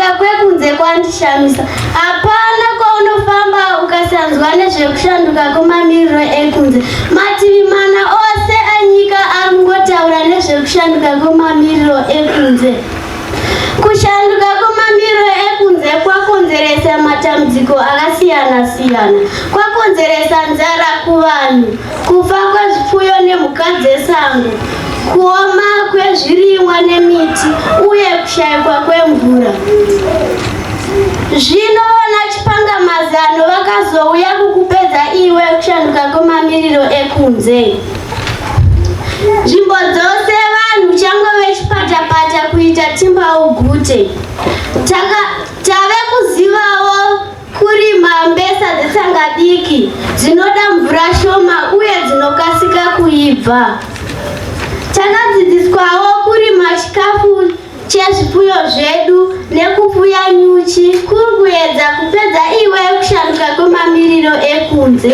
kwekunze kwandishamisa hapana kwaunofamba ukasanzwa nezvekushanduka kwemamiriro ekunze mativi mana ose anyika ari kungotaura nezvekushanduka kwemamiriro ekunze kushanduka kwemamiriro ekunze kwakonzeresa matambudziko akasiyana siyana kwakonzeresa nzara kuvanhu Kufa kwezvipfuyo nemhuka dzesango, kuoma kwezvirimwa nemiti uye kushaikwa kwemvura. Zvino vanachipangamazano vakazouya kukupedza iwe kushanduka kwemamiriro ekunze. Nzvimbo dzose vanhu changove chipatapata kuita timbaugute. Taka Kurima mbesa dzetsanga diki dzinoda mvura shoma uye dzinokasika kuibva. Takadzidziswawo kurima chikafu chezvipfuyo zvedu nekupfuya nyuchi kuri kuedza kupedza iwe kushanduka kwemamiriro ekunze.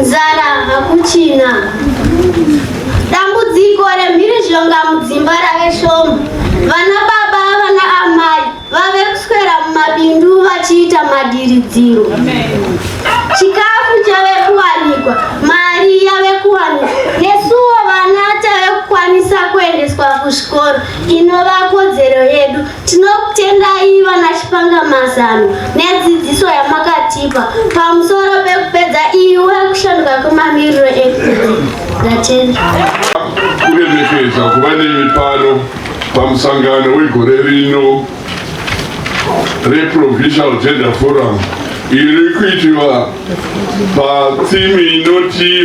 Nzara hakuchina. Dambudziko remhiri zhonga mudzimba rave shoma. Vana baba vana amai vave kuswera mumabindu vachiita madiridziro. Chikafu chave kuwanikwa, mari yave kuwanikwa. Nesuwo vana tave kukwanisa kuendeswa kuzvikoro inova kodzero yedu. Tinokutendai vana Chipanga Mazano nedzidziso yamakatipa pamusoro pekupedza iwe kushanduka kwemamiriro ekunze. Ndatenda. Kuremekedza kuva nemi pano pamusangano wegore rino reProvincial Gender Forum iri kuitiwa patsimi inoti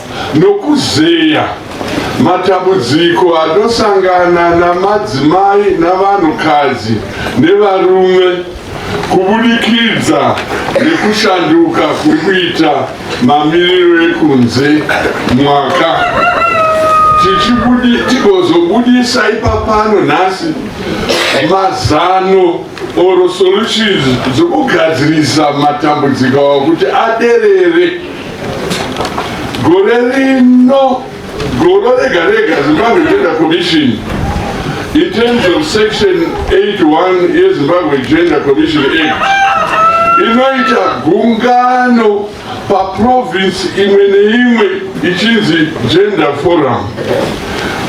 nokuzeya matambudziko anosangana namadzimai navanhukadzi nevarume kubudikidza nekushanduka kuri kuita mamiriro ekunze mwaka tigozobudisa ipapano nhasi mazano or solutions dzokugadzirisa matambudziko awo kuti aderere gore rino goro rega rega zimbabwe gender commission in terms of section 81 yezimbabwe gender commission act inoita gungano paprovince imwe neimwe ichinzi gender forum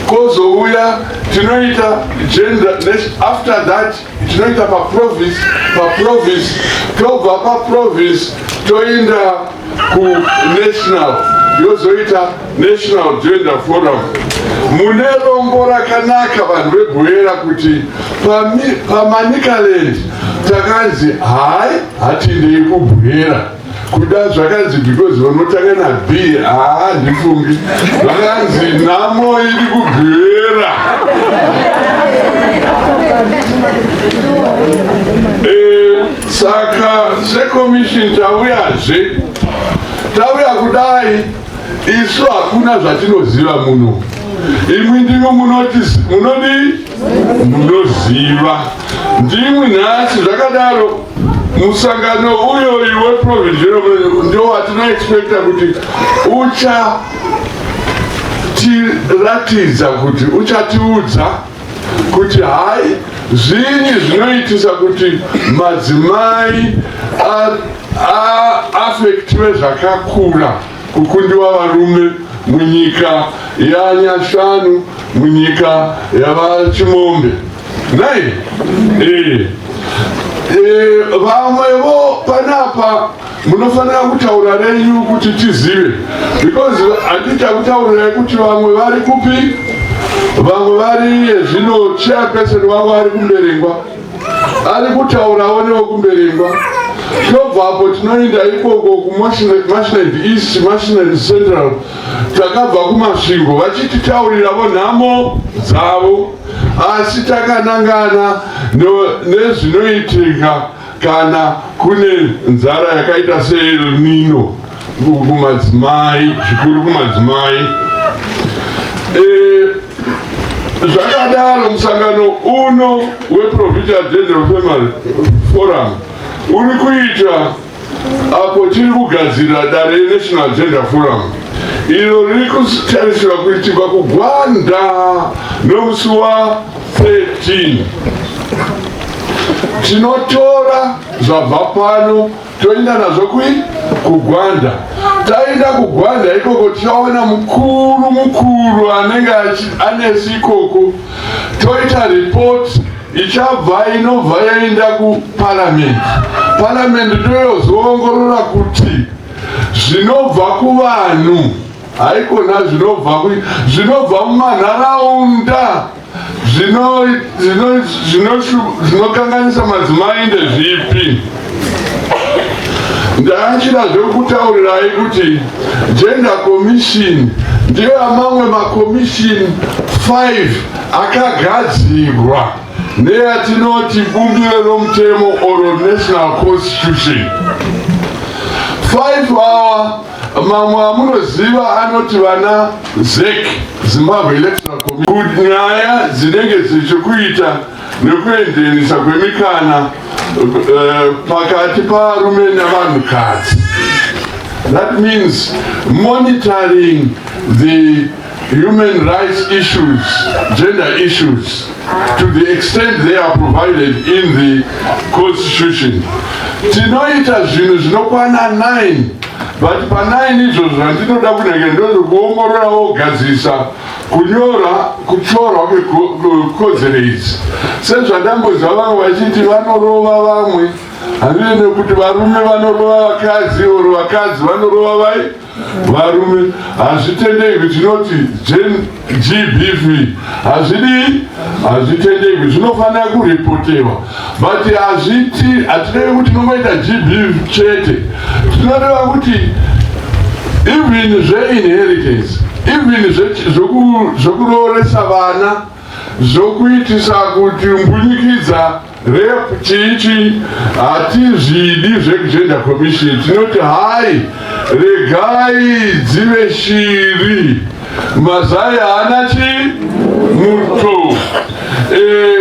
kozouya tinoita gender after that tinoita paprovince paprovince tobva paprovince toenda kunational yozoita national gender forum mune rombo rakanaka vanhu vebhoyera kuti pamanicaland takanzi hai hatindei kubhoyera kuda zvakanzi because vanotanga nab haa ndifungi vakanzi nhamo iri kugwera eh, saka sekomishini tauyazve tauya kudai isu hakuna zvatinoziva muno imwi ndimo munoti munodi munoziva Ndimwi nhasi zvakadaro musangano uyoyu weprovincial ndo watinoexpecta kuti ucha tiratidza kuti uchatiudza kuti hai zvinyi zvinoitisa kuti madzimai aafektive zvakakura kukundiwa varume munyika yanyashanu munyika yavachimombe Right? Eh. Eh, vamwevo panapa munofanira kutaura renyu kuti tizive because handita kutaurirai kuti vamwe vari kupi vamwe vari yezvino chairperson wavo ari kumberengwa ari kutaurawo newekumberengwa tobva apo tinoenda ikoko kumashined east mashined central takabva kumasvingo vachititaurira vonhamo dzavo Asi takanangana nezvinoitika kana kune nzara yakaita seEl Nino kumadzimai, zvikuru kumadzimai. E, zvakadaro musangano uno weProvincial General Family Forum uri kuita Apo tiri kugadzirira dare reNational Gender Forum iro riri kutarisirwa kuitirwa kuGwanda nomusi wa 13 tinotora zvabva pano toenda nazvo kui kugwanda taenda kugwanda ikoko tichaona mukuru mukuru anenge anesu ikoko toita report ichabva inobva yaenda kuparamendi paramendi ndoyozoongorora kuti zvinobva kuvanhu haikona zvinobva zvinobva mumanharaunda zvinokanganisa madzimai ndezvipi ndaachida zvekutaurirai kuti gender commission ndiyo amamwe macommission 5 akagadzirwa neyatinoti bumbiro romutemo or national constitution 5 hour mamwe amunoziva anoti vana zek zimbabwe electoral commission nyaya dzinenge dzichikuita nekuenzenisa kwemikana eh, pakati parume nevanhukadzi that means monitoring the human rights issues, gender issues, to the extent they are provided in the constitution. Tinoita zvinhu zvinokwana 9 but pa 9 izvozvo zvandinoda kunenge ndozokuongorora wogadzirisa kunyora kuchorwa kwekodzero idzi sezvandamboziva vamwe vachiti vanorova vamwe handine nekuti varume vanorova vakadzi or vakadzi vanorova vai Varume hazvitendegwi tinoti GBV hazvidii hazvitendegwi zvinofanira kuripotewa but hazviti hatirevi kuti tinongoita GBV chete tinoreva kuti even zveinheritance even zvekurooresa vana zvokuitisa kuti mbunyikidza Rep chichi hatizvidi zvekugender commission tinoti hai regai dzive shiri mazai haana chi muto e, eh,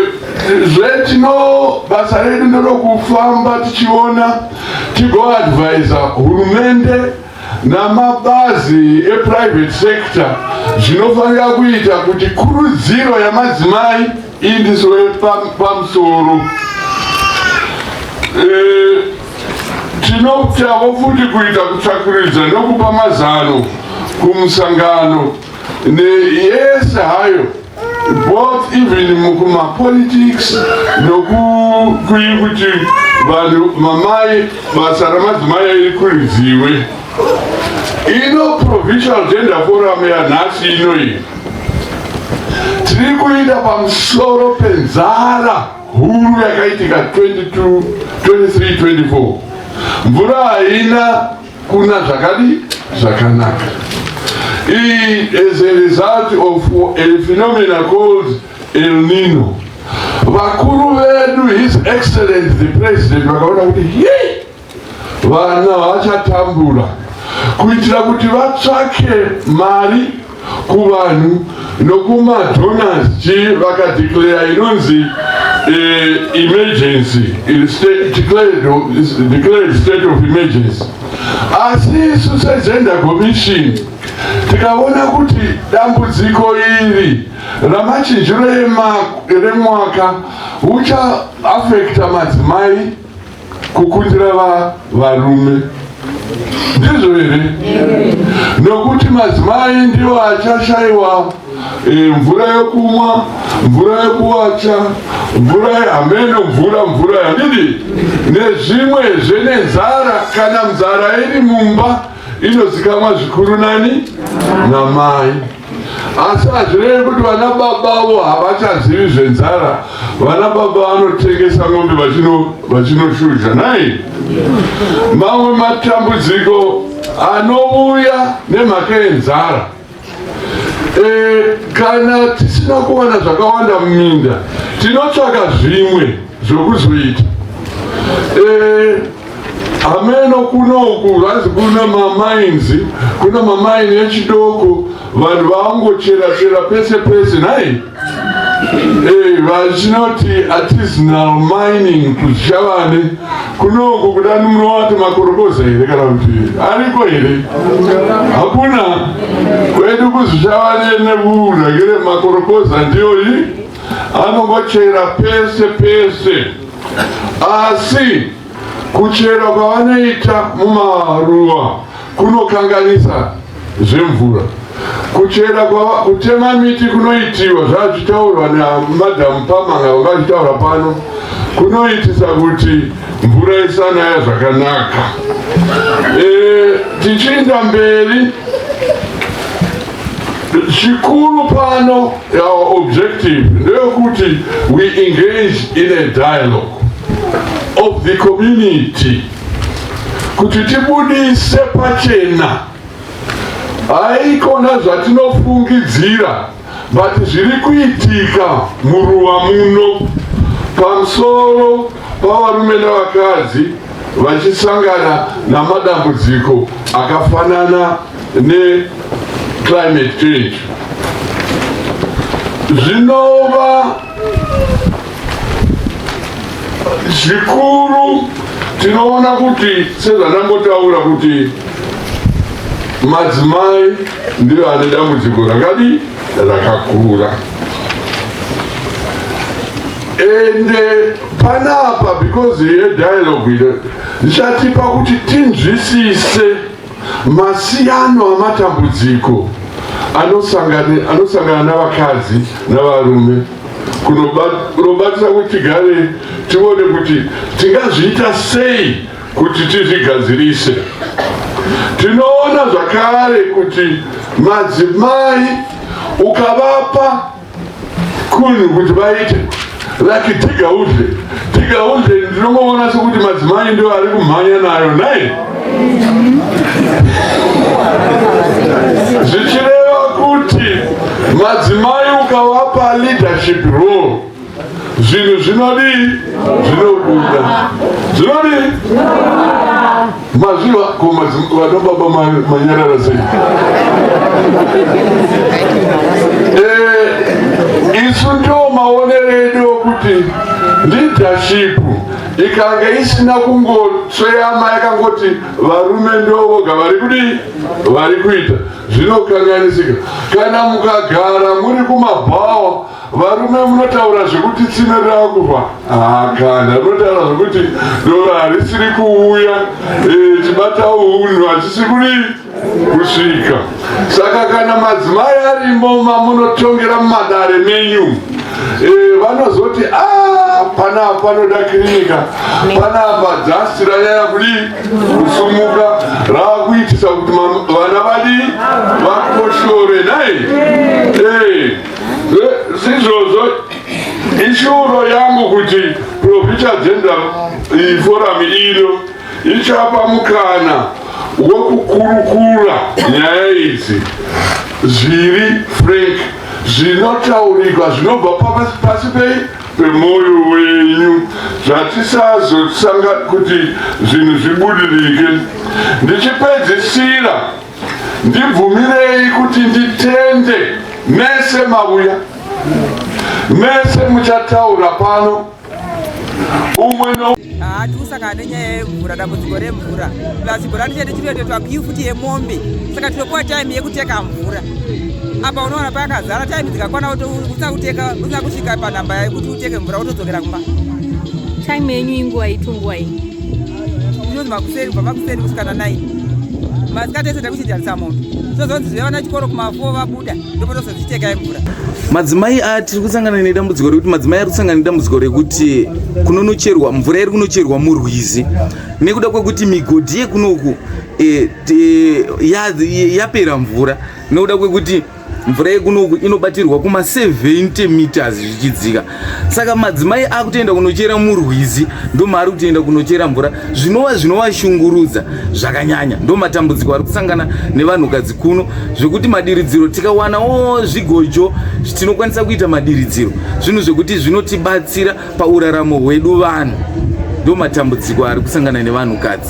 zvetino basa redu ndorokufamba tichiona tigoadvisa hurumende namabazi eprivate sector zvinofanira kuita kuti kurudziro yamadzimai indiswe pamusoro e, tinotavo futi kuita kutsvakuridza nokupa mazano kumusangano neyese hayo both even mukumapolitics nokukuyi kuti vanhu mamai basa ramadzimai airikuridziwe ino provisional gender forum yanhasi inoyi tiri kuita pamusoro penzara huru yakaitika 22 23 24 mvura haina Kuna zvakadi zvakanaka. Iyi is a result of a phenomena called El Nino. Vakuru vedu his excellent the president vakaona kuti hii vana vachatambura kuitira kuti vatsvake mari kuvanhu nokumadonors chii vakadeclare inonzi eh, emergency declared state of emergency asi isu segender commission tikaona kuti dambudziko iri ramachinjiro remwaka uchaafekta madzimai Kukundira varume ndizvo here? Nokuti madzimai ndiwo achashaiwa eh, mvura yokumwa, mvura yokuwacha, mvura hameno, mvura mvura yadidi nezvimwe zvene nzara. Kana nzara iri mumba inozikamwa zvikuru nani? Namai. Asi hazvirevi kuti vana baba avo havachazivi zvenzara. Vana baba vanotengesa mombe vachinoshuzha nai. Mamwe matambudziko anouya nemhaka yenzara. E, kana tisina kuwana zvakawanda muminda tinotsvaka zvimwe. zvokuzoita eh, hameno kunoku vazi kuna mamainzi kuna mamaini echidoko vanhu vaangochera chera pese pese nhai eh, vachinoti artisanal mining kuzichavane kunoku kudani munovati makorokoza here kana kuti ariko here hakuna kwedu kuzichavane nevuuragire makorokoza ndiyoyi Anongochera pese pese asi kuchera kwavanoita mumaruwa kunokanganisa zvemvura. Kuchera kutema miti kunoitiwa zvazvitaurwa namadam Pamanga vanga vachitaura pano kunoitisa kuti mvura isanaya zvakanaka. E, tichiinda mberi Chikuru pano our objective ndeyokuti we engage in a dialogue of the community kuti tibudise pachena haikona zvatinofungidzira but zviri kuitika muruwa muno pamusoro pavarume nevakadzi vachisangana namadambudziko akafanana neclimate change zvinova zvikuru tinoona kuti sezvandangotaura kuti madzimai ndiyo ane dambudziko rakadi rakakura ende panapa because yedialogue ndichatipa kuti tinzwisise Masiyano amatambudziko anosangana anosangana navakadzi navarume kunobatsira kuti tigare tione kuti tingazviita sei kuti tizvigadzirise. Tinoona zvakare kuti madzimai ukavapa kunhu kuti vaite vaki tigauze tigauze ndinongoona sekuti madzimai ndo ari kumhanya nayo nai zvichireva kuti madzimai ukavapa leadership role zvinhu zvinodii zvinobuda zvinodii Mazviva ko vana baba manyarara sei? Eh, isu ndo maonere edu okuti leadership ikange isina kungotsveyama yakangoti varume ndovoga vari kudii vari kuita zvinokanganisika kana mukagara muri kumabhawa Varume munotaura zvekuti tsime rakufa hakana munotaura zvekuti doro harisiri kuuya eh, chibata unhu hachisi kuri kusvika saka kana madzimai arimo mamunotongera mumadare menyu eh, vanozoti ah, panapa panoda kirinika panapa dhasti ranyaya kudi kusumuka raakuitisa kuti vana vadi vakoshore nai eh, Sizvozvo ishuro yangu kuti Profita Gender Forum ino ichapa mukana wokukurukura nyaya idzi zviri frank zvinotaurikwa zvinobva pasi pei pemwoyo wenyu zvatisazosanga kuti zvinhu zvibudirike ndichipedzisira Ndibvumirei kuti nditende mese mauya, mese muchataura pano umwe no hatikusangana nenyaya yemvura dambudziko remvura plus mvura ndichete chinotoitwa kiu futi yemombe saka tinokuwa time yekuteka mvura apa unoona pakazara time dzikakwana usakuteka usina kusvika panhamba yekuti uteke mvura wotodzokera kumba time yenyu inguva itunguva iyi kunonzi makuseni kubva makuseni kusvika na 9 masikati ese takuchidyarisa mombe tozonzi zve vana chikoro kumafo vabuda ndopotozozviteka yemvura madzimai aya tiri kusangana nedambudziko rekuti madzimai ari kusangana nedambudziko rekuti kunonocherwa mvura iri kunocherwa murwizi nekuda kwekuti migodhi yekunoku e, e, yapera mvura nekuda kwekuti mvura yekunoku inobatirwa kuma 70 meters zvichidzika saka madzimai akutoenda kunochera murwizi ndomaari kutoenda kunochera mvura zvinova zvinovashungurudza zvakanyanya ndomatambudziko ari kusangana nevanhukadzi kuno zvekuti madiridziro tikawanawo zvigojo tinokwanisa kuita madiridziro zvinhu zvekuti zvinotibatsira pauraramo hwedu vanhu ndomatambudziko ari kusangana nevanhukadzi